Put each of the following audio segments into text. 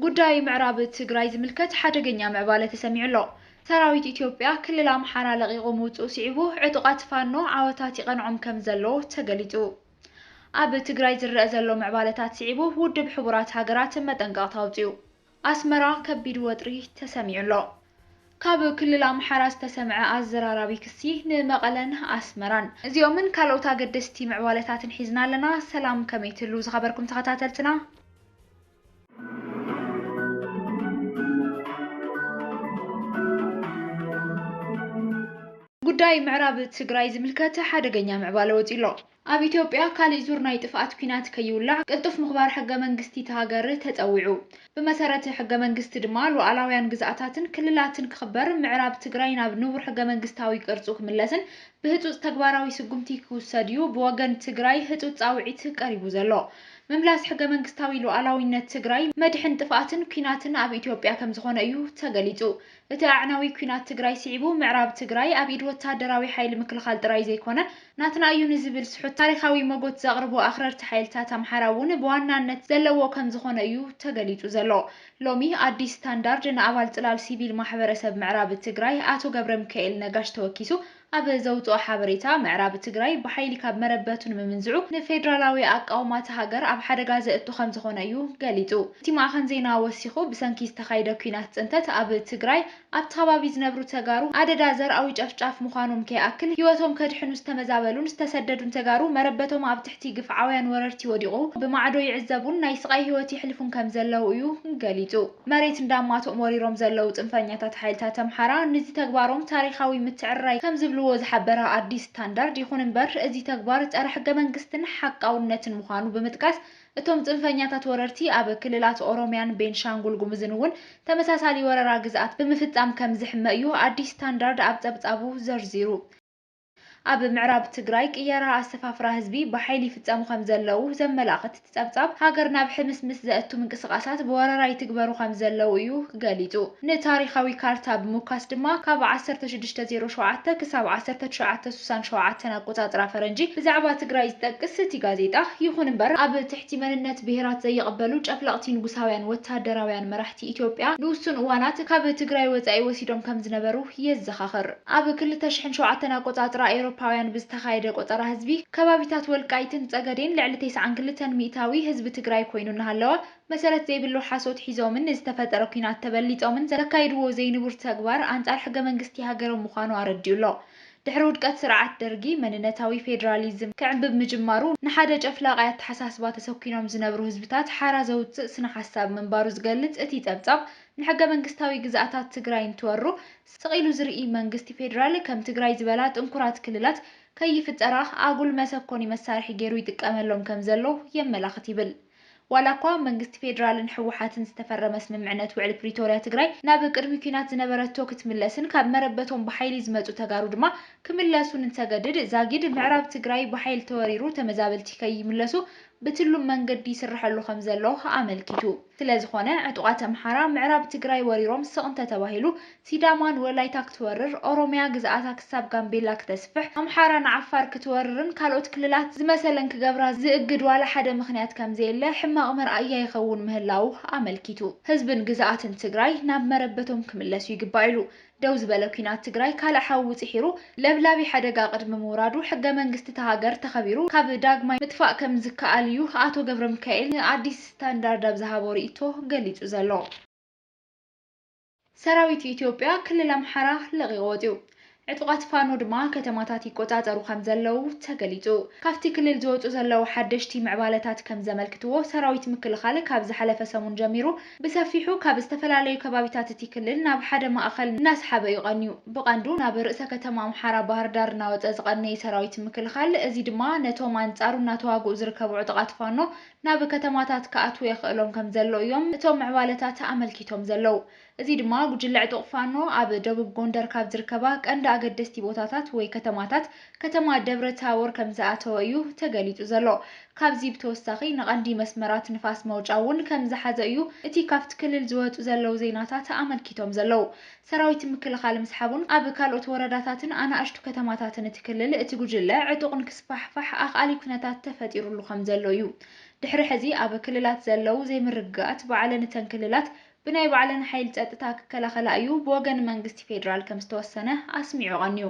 ጉዳይ ምዕራብ ትግራይ ዝምልከት ሓደገኛ ምዕባለ ተሰሚዑ ኣሎ። ሰራዊት ኢትዮጵያ ክልል ኣምሓራ ለቒቑ ምውፅኡ ስዒቡ ዕጡቓት ፋኖ ዓወታት ይቐንዖም ከምዘሎ ተገሊፁ። ኣብ ትግራይ ዝረኣ ዘሎ ምዕባለታት ስዒቡ ውድብ ሕቡራት ሃገራት መጠንቀቕታ ኣውፂኡ። ኣስመራ ከቢድ ወጥሪ ተሰሚዑ ኣሎ። ካብ ክልል ኣምሓራ ዝተሰምዐ ኣዘራራቢ ክሲ ንመቐለን ኣስመራን። እዚኦምን ካልኦት ኣገደስቲ ምዕባለታትን ሒዝና ኣለና። ሰላም ከመይ ትህልዉ ዝኸበርኩም ተኸታተልትና። ጉዳይ ምዕራብ ትግራይ ዝምልከት ሓደገኛ ምዕባለ ወጺኡ'ሎ። ኣብ ኢትዮጵያ ካልእ ዙር ናይ ጥፍኣት ኲናት ከይውላዕ ቅልጡፍ ምኽባር ሕገ መንግስቲ'ታ ሃገር ተጸዊዑ። ብመሰረት ሕገ መንግስቲ ድማ ሉኣላውያን ግዝኣታትን ክልላትን ክኽበር፣ ምዕራብ ትግራይ ናብ ንቡር ሕገ መንግስታዊ ቅርጹ ክምለስን ብህጹጽ ተግባራዊ ስጉምቲ ክውሰድ'ዩ ብወገን ትግራይ ህጹጽ ጻውዒት ቀሪቡ ዘሎ። ምምላስ ሕገመንግስታዊ ሉኣላዊነት ትግራይ መድሕን ጥፍኣትን ኲናትን ኣብ ኢትዮጵያ ከምዝኾነ እዩ ተገሊፁ። እቲ ኣዕናዊ ኲናት ትግራይ ስዒቡ ምዕራብ ትግራይ ኣብ ኢድ ወታደራዊ ሓይሊ ምክልኻል ጥራይ ዘይኮነ ናትና እዩ ንዝብል ስሑት ታሪኻዊ ሞጎት ዘቕርቡ ኣኽረርቲ ሓይልታት ኣምሓራ እውን ብዋናነት ዘለዎ ከምዝኾነ እዩ ተገሊፁ ዘሎ። ሎሚ ኣዲስ ስታንዳርድ ንኣባል ፅላል ሲቪል ማሕበረሰብ ምዕራብ ትግራይ ኣቶ ገብረሚካኤል ነጋሽ ተወኪሱ ኣብ ዘውጽኦ ሓበሬታ፣ ምዕራብ ትግራይ ብሓይሊ ካብ መረበቱ ንምምንዝዑ ንፌደራላዊ ኣቃውማ እታ ሃገር ኣብ ሓደጋ ዘእቱ ከምዝኾነ እዩ ገሊጹ። እቲ ማዕኸን ዜና ወሲኹ፣ ብሰንኪ ዝተኻይደ ኲናት ጽንተት ኣብ ትግራይ ኣብቲ ከባቢ ዝነብሩ ተጋሩ ኣደዳ ዘርኣዊ ጨፍጫፍ ምዃኖም ከይኣክል ህይወቶም ከድሕኑ ዝተመዛበሉን ዝተሰደዱን ተጋሩ መረበቶም ኣብ ትሕቲ ግፍዓውያን ወረርቲ ወዲቑ ብማዕዶ ይዕዘቡን ናይ ስቓይ ህይወት የሕልፉን ከምዘለዉ እዩ ገሊጹ። መሬት እንዳማትኦም ወሪሮም ዘለዉ ፅንፈኛታት ሓይልታት ኣምሓራ ንዚ ተግባሮም ታሪኻዊ ምትዕርራይ ከምዝብልዎ ዝሓበረ ኣዲስ ስታንዳርድ፣ ይኹን እምበር እዚ ተግባር ፀረ ሕገ መንግስትን ሓቃውነትን ምዃኑ ብምጥቃስ እቶም ፅንፈኛታት ወረርቲ ኣብ ክልላት ኦሮሚያን ቤንሻንጉል ጉሙዝን እውን ተመሳሳሊ ወረራ ግዝኣት ብምፍፃም ከምዝሕመ እዩ ኣዲስ ስታንዳርድ ኣብ ፀብፃቡ ዘርዚሩ። ኣብ ምዕራብ ትግራይ ቅየራ ኣሰፋፍራ ህዝቢ ብሓይሊ ይፍፀሙ ከምዘለዉ ዘመላኽት እቲ ፀብፃብ፣ ሃገር ናብ ሕምስምስ ዘእቱ ምንቅስቓሳት ብወረራ ይትግበሩ ከምዘለዉ እዩ ገሊፁ። ንታሪኻዊ ካርታ ብምውካስ ድማ ካብ ዓሰርተ ሽዱሽተ ዜሮ ሸውዓተ ክሳብ ዓሰርተ ትሽዓተ ስሳን ሸውዓተን ኣቆፃፅራ ፈረንጂ ብዛዕባ ትግራይ ዝጠቅስ እቲ ጋዜጣ፣ ይኹን እምበር ኣብ ትሕቲ መንነት ብሄራት ዘይቕበሉ ጨፍለቕቲ ንጉሳውያን ወታደራውያን መራሕቲ ኢትዮጵያ ንውሱን እዋናት ካብ ትግራይ ወፃኢ ወሲዶም ከምዝነበሩ የዘኻኽር። ኣብ ክልተ ሽሕን ሸውዓተን ኣቆጻጽራ ኤውሮፓውያን ብዝተኻየደ ቆጸራ ህዝቢ፣ ከባቢታት ወልቃይትን ጸገዴን ልዕሊ ቴስዓን ክልተን ሚእታዊ ህዝቢ ትግራይ ኮይኑ እናሃለወ፣ መሰረት ዘይብሉ ሓሶት ሒዞምን ንዝተፈጠረ ኩናት ተበሊጾምን ዘካይድዎ ዘይንቡር ተግባር ኣንጻር ሕገ-መንግስቲ ሃገሮም ምዃኑ ኣረዲኡ ኣሎ። ድሕሪ ውድቀት ስርዓት ደርጊ፣ መንነታዊ ፌደራሊዝም ክዕምብብ ምጅማሩ፣ ንሓደ ጨፍላቓይ ኣተሓሳስባ ተሰኲኖም ዝነብሩ ህዝብታት ሓራ ዘውጽእ ስነ-ሓሳብ ምንባሩ ዝገልጽ እቲ ጸብጻብ፣ ንሕገ-መንግስታዊ ግዝኣታት ትግራይ እንትወሩ፣ ስቕ ኢሉ ዝርኢ መንግስቲ ፌዴራል ከም ትግራይ ዝበላ ጥንኩራት ክልላት ከይፍጠራ ኣጉል መሰኮኒ መሳርሒ ገይሩ ይጥቀመሎም ከም ዘሎ የመላኽት ይብል። ዋላ እኳ ኣብ መንግስቲ ፌዴራልን ህወሓትን ዝተፈረመ ስምምዕነት ውዕሊ ፕሪቶርያ ትግራይ ናብ ቅድሚ ኲናት ዝነበረቶ ክትምለስን ካብ መረበቶም ብሓይሊ ዝመፁ ተጋሩ ድማ ክምለሱን እንተገድድ ዛጊድ ምዕራብ ትግራይ ብሓይሊ ተወሪሩ ተመዛበልቲ ከይምለሱ ብትሉም መንገዲ ይስረሐሉ ከምዘሎ ኣመልኪቱ። ስለዝኾነ ዕጡቓት ኣምሓራ ምዕራብ ትግራይ ወሪሮም ስቕ እንተተባሂሉ ሲዳማ ንወላይታ ክትወርር፣ ኦሮሚያ ግዝኣታ ክሳብ ጋምቤላ ክተስፍሕ፣ ኣምሓራ ንዓፋር ክትወርርን ካልኦት ክልላት ዝመሰለን ክገብራ ዝእግድ ዋላ ሓደ ምኽንያት ከምዘየለ ሕማቕ መርኣያ ይኸውን ምህላዉ ኣመልኪቱ። ህዝብን ግዝኣትን ትግራይ ናብ መረበቶም ክምለሱ ይግባእ ኢሉ። ደው ዝበለ ኲናት ትግራይ ካልእ ሓዊ ጺሒሩ ለብላቢ ሓደጋ ቅድሚ ምውራዱ ሕገ መንግስቲ እታ ሃገር ተኸቢሩ ካብ ዳግማይ ምጥፋእ ከምዝከኣል እዩ ኣቶ ገብረሚካኤል ንኣዲስ ስታንዳርድ ኣብ ዝሃቦ ርኢቶ ገሊጹ ዘሎ። ሰራዊት ኢትዮጵያ ክልል ኣምሓራ ለቒቑ ወጺኡ። ዕጡቓት ፋኖ ድማ ከተማታት ይቆጻጸሩ ከምዘለዉ ተገሊጹ። ካብቲ ክልል ዝወጹ ዘለዉ ሓደሽቲ ምዕባለታት ከምዘመልክትዎ ሰራዊት ምክልኻል ካብ ዝሓለፈ ሰሙን ጀሚሩ ብሰፊሑ ካብ ዝተፈላለዩ ከባቢታት እቲ ክልል ናብ ሓደ ማእኸል እናሰሓበ እዩ ቐንዩ። ብቐንዱ ናብ ርእሰ ከተማ ኣምሓራ ባህርዳር እናወፀ ዝቐነየ ሰራዊት ምክልኻል፣ እዚ ድማ ነቶም ኣንፃሩ እናተዋግኡ ዝርከቡ ዕጡቓት ፋኖ ናብ ከተማታት ክኣትዉ የኽእሎም ከምዘሎ እዮም እቶም ምዕባለታት ኣመልኪቶም ዘለዉ። እዚ ድማ ጉጅለ ዕጡቕ ፋኖ ኣብ ደቡብ ጎንደር ካብ ዝርከባ ቀንዲ ኣገደስቲ ቦታታት ወይ ከተማታት ከተማ ደብረ ታቦር ከምዝኣተወ እዩ ተገሊፁ ዘሎ። ካብዚ ብተወሳኺ ንቐንዲ መስመራት ንፋስ መውጫ እውን ከምዝሓዘ እዩ እቲ ካብቲ ክልል ዝወፁ ዘለው ዜናታት ኣመልኪቶም ዘለው። ሰራዊት ምክልኻል ምስሓቡን ኣብ ካልኦት ወረዳታትን ኣናእሽቱ ከተማታትን እቲ ክልል እቲ ጉጅለ ዕጡቕ ንክስፋሕፋሕ ኣኽኣሊ ኩነታት ተፈጢሩሉ ከምዘሎ እዩ። ድሕሪ ሕዚ ኣብ ክልላት ዘለው ዘይምርግጋኣት ባዕለን እተን ክልላት ብናይ ባዕለን ሓይሊ ፀጥታ ክከላኸላ እዩ ብወገን መንግስቲ ፌዴራል ከምዝተወሰነ ኣስሚዑ ቐንዩ።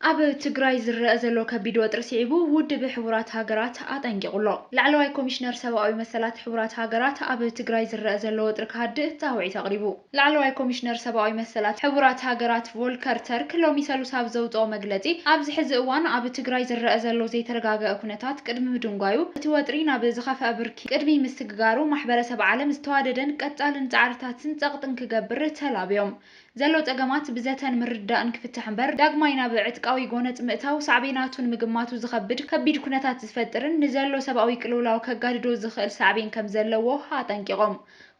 ኣብ ትግራይ ዝረኣ ዘሎ ከቢድ ወጥሪ ስዒቡ ውድብ ሕቡራት ሃገራት ኣጠንቂቑ ኣሎ። ላዕለዋይ ኮሚሽነር ሰብኣዊ መሰላት ሕቡራት ሃገራት ኣብ ትግራይ ዝረኣ ዘሎ ወጥሪ ክሃድእ ጻውዒት ኣቕሪቡ። ላዕለዋይ ኮሚሽነር ሰብኣዊ መሰላት ሕቡራት ሃገራት ቮልከር ተርክ ሎሚ ሰሉስ ኣብ ዘውጽኦ መግለጺ ኣብዚ ሕዚ እዋን ኣብ ትግራይ ዝረኣ ዘሎ ዘይተረጋገኣ ኩነታት ቅድሚ ምድንጓዩ እቲ ወጥሪ ናብ ዝኸፍኣ ብርኪ ቅድሚ ምስግጋሩ ማሕበረሰብ ዓለም ዝተዋደደን ቀጻልን ጻዕርታትን ጸቕጥን ክገብር ተላብዮም ዘሎ ጸገማት ብዘተን ምርድዳእን ክፍታሕ እምበር ዳግማይ ናብ ዕጥቃዊ ጎነጽ ምእታው ሳዕቤናቱ ንምግማቱ ዝኸብድ ከቢድ ኩነታት ዝፈጥርን ንዘሎ ሰብኣዊ ቅልውላው ከጋድዶ ዝኽእል ሳዕቤን ከምዘለዎ ኣጠንቂቖም።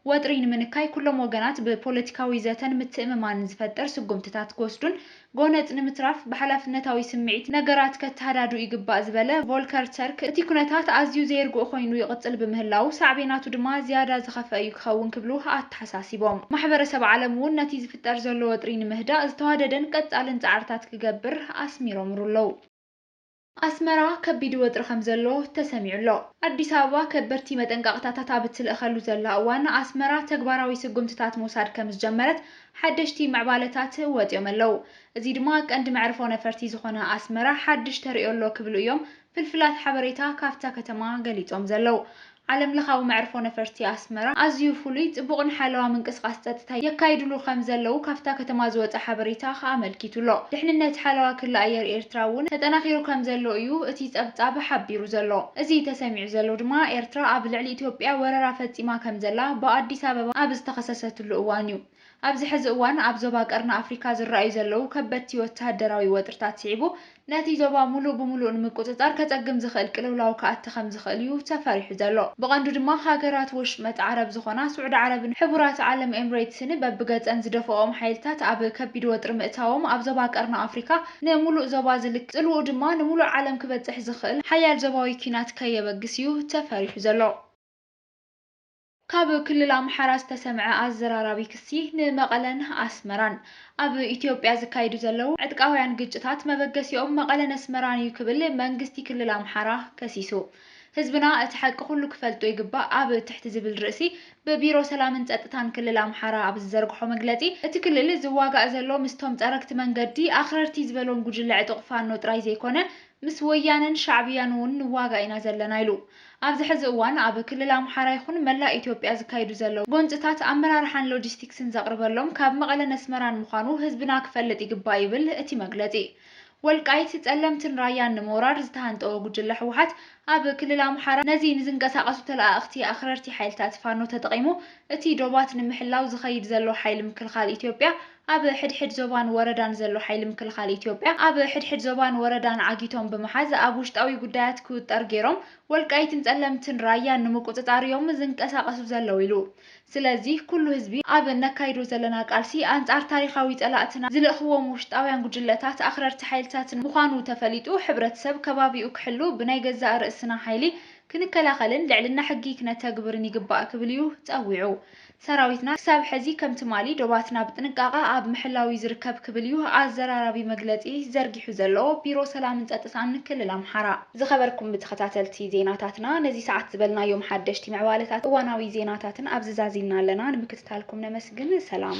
ወጥሪ ንምንካይ ኩሎም ወገናት ብፖለቲካዊ ዘተን ምትእምማንን ዝፈጥር ስጉምትታት ክወስዱን ጎነጽ ንምትራፍ ብሓላፍነታዊ ስምዒት ነገራት ከተሃዳድኡ ይግባእ ዝበለ ቮልከር ተርክ እቲ ኩነታት ኣዝዩ ዘየርግኦ ኮይኑ ይቕጽል ብምህላዉ ሳዕቤናቱ ድማ ዝያዳ ዝኸፍኣ እዩ ክኸውን ክብሉ ኣተሓሳሲቦም። ማሕበረሰብ ዓለም እውን ነቲ ዝፍጠር ዘሎ ወጥሪ ንምህዳእ ዝተዋደደን ቀፃልን ፃዕርታት ክገብር ኣስሚሮምሩ ኣለው። ኣስመራ ከቢድ ወጥሪ ከምዘሎ ተሰሚዑ ኣሎ። ኣዲስ ኣበባ ከበድቲ መጠንቀቕታታት ኣብ እትልእኸሉ ዘላ እዋን፣ ኣስመራ ተግባራዊ ስጉምትታት ምውሳድ ከምዝጀመረት ሓደሽቲ ምዕባለታት ወፂኦም ኣለው። እዚ ድማ ቀንዲ መዕርፎ ነፈርቲ ዝኾነ ኣስመራ ሓድሽ ተርእዮ ኣሎ ክብሉ እዮም ፍልፍላት ሓበሬታ ካብታ ከተማ ገሊጾም ዘለው፣ ዓለም ለኻዊ መዕርፎ ነፈርቲ ኣስመራ ኣዝዩ ፍሉይ፣ ጽቡቕን ሓለዋ ምንቅስቓስ ጸጥታ የካይድሉ ከም ዘለው ካብታ ከተማ ዝወጸ ሓበሬታ ኣመልኪቱ ኣሎ። ድሕንነት ሓለዋ ክሊ ኣየር ኤርትራ እውን ተጠናኺሩ ከም ዘሎ እዩ እቲ ጸብጻብ ሓቢሩ ዘሎ። እዚ ተሰሚዑ ዘሎ ድማ ኤርትራ ኣብ ልዕሊ ኢትዮጵያ ወረራ ፈጺማ ከም ዘላ ብኣዲስ ኣበባ ኣብ ዝተኸሰሰትሉ እዋን እዩ። ኣብዚ ሕዚ እዋን ኣብ ዞባ ቀርኒ ኣፍሪካ ዝረኣዩ ዘለዉ ከበድቲ ወተሃደራዊ ወጥርታት ስዒቡ ነቲ ዞባ ሙሉእ ብሙሉእ ንምቁፅፃር ከፀግም ዝኽእል ቅልውላው ክኣቲ ከምዝኽእል እዩ ተፈሪሑ ዘሎ። ብቐንዱ ድማ ሃገራት ወሽመጥ ዓረብ ዝኾና ስዑዲ ዓረብን ሕቡራት ዓለም ኤምሬትስን በብገፀን ዝደፈእኦም ሓይልታት ኣብ ከቢድ ወጥሪ ምእታዎም ኣብ ዞባ ቀርኒ ኣፍሪካ ንሙሉእ ዞባ ዝልክ ፅልውኡ ድማ ንሙሉእ ዓለም ክበፅሕ ዝኽእል ሓያል ዞባዊ ኲናት ከየበግስ እዩ ተፈሪሑ ዘሎ። ካብ ክልል ኣምሓራ ዝተሰምዐ ኣዘራራቢ ክሲ ንመቐለን ኣስመራን ኣብ ኢትዮጵያ ዝካየዱ ዘለዉ ዕጥቃውያን ግጭታት መበገሲኦም መቐለን ኣስመራን እዩ ክብል መንግስቲ ክልል ኣምሓራ ከሲሱ። ህዝብና እቲ ሓቂ ኩሉ ክፈልጦ ይግባእ ኣብ ትሕቲ ዝብል ርእሲ ብቢሮ ሰላምን ፀጥታን ክልል ኣምሓራ ኣብ ዝዘርግሖ መግለፂ እቲ ክልል ዝዋጋእ ዘሎ ምስቶም ፀረግቲ መንገዲ ኣኽረርቲ ዝበሎም ጉጅለ ዕጡቕ ፋኖ ጥራይ ዘይኮነ ምስ ወያነን ሻዕብያን እውን ንዋጋእ ኢና ዘለና ኢሉ። ኣብዚ ሕዚ እዋን ኣብ ክልል ኣምሓራ ይኹን መላእ ኢትዮጵያ ዝካየዱ ዘለዉ ጎንፅታት ኣመራርሓን ሎጂስቲክስን ዘቕርበሎም ካብ መቐለን ኣስመራን ምዃኑ ህዝብና ክፈልጥ ይግባእ ይብል እቲ መግለፂ። ወልቃይት፣ ፀለምትን ራያን ንምውራር ዝተሃንጠወ ጉጅለ ህወሓት ኣብ ክልል ኣምሓራ ነዚ ንዝንቀሳቐሱ ተለኣእኽቲ ኣኽረርቲ ሓይልታት ፋኖ ተጠቒሙ እቲ ዶባት ንምሕላው ዝኸይድ ዘሎ ሓይሊ ምክልኻል ኢትዮጵያ ኣብ ሕድሕድ ዞባን ወረዳን ዘሎ ሓይሊ ምክልኻል ኢትዮጵያ ኣብ ሕድሕድ ዞባን ወረዳን ዓጊቶም ብምሓዝ ኣብ ውሽጣዊ ጉዳያት ክውጠር ገይሮም ወልቃይትን ፀለምትን ራያን ንምቁፅፃር እዮም ዝንቀሳቐሱ ዘለው ኢሉ። ስለዚ ኩሉ ህዝቢ ኣብ እነካይዶ ዘለና ቃልሲ ኣንፃር ታሪኻዊ ፀላእትና ዝልእኽዎም ውሽጣውያን ጉጅለታት ኣኽረርቲ ሓይልታትን ምዃኑ ተፈሊጡ ሕብረተሰብ ከባቢኡ ክሕሉ ብናይ ገዛእ ርእስና ሓይሊ ክንከላኸልን ልዕልና ሕጊ ክነተግብርን ይግባእ ክብል እዩ ፀዊዑ። ሰራዊትና ክሳብ ሕዚ ከም ትማሊ ዶባትና ብጥንቃቐ ኣብ ምሕላው ዩ ዝርከብ ክብል ዩ ኣዘራራቢ መግለፂ ዘርጊሑ ዘሎ ቢሮ ሰላምን ፀጥታን ክልል ኣምሓራ። ዝኸበርኩም ተኸታተልቲ ዜናታትና ነዚ ሰዓት ዝበልናዮም ሓደሽቲ ምዕባለታትን እዋናዊ ዜናታትን ኣብዚ ዛዚምና ኣለና። ንምክትታልኩም ነመስግን። ሰላም።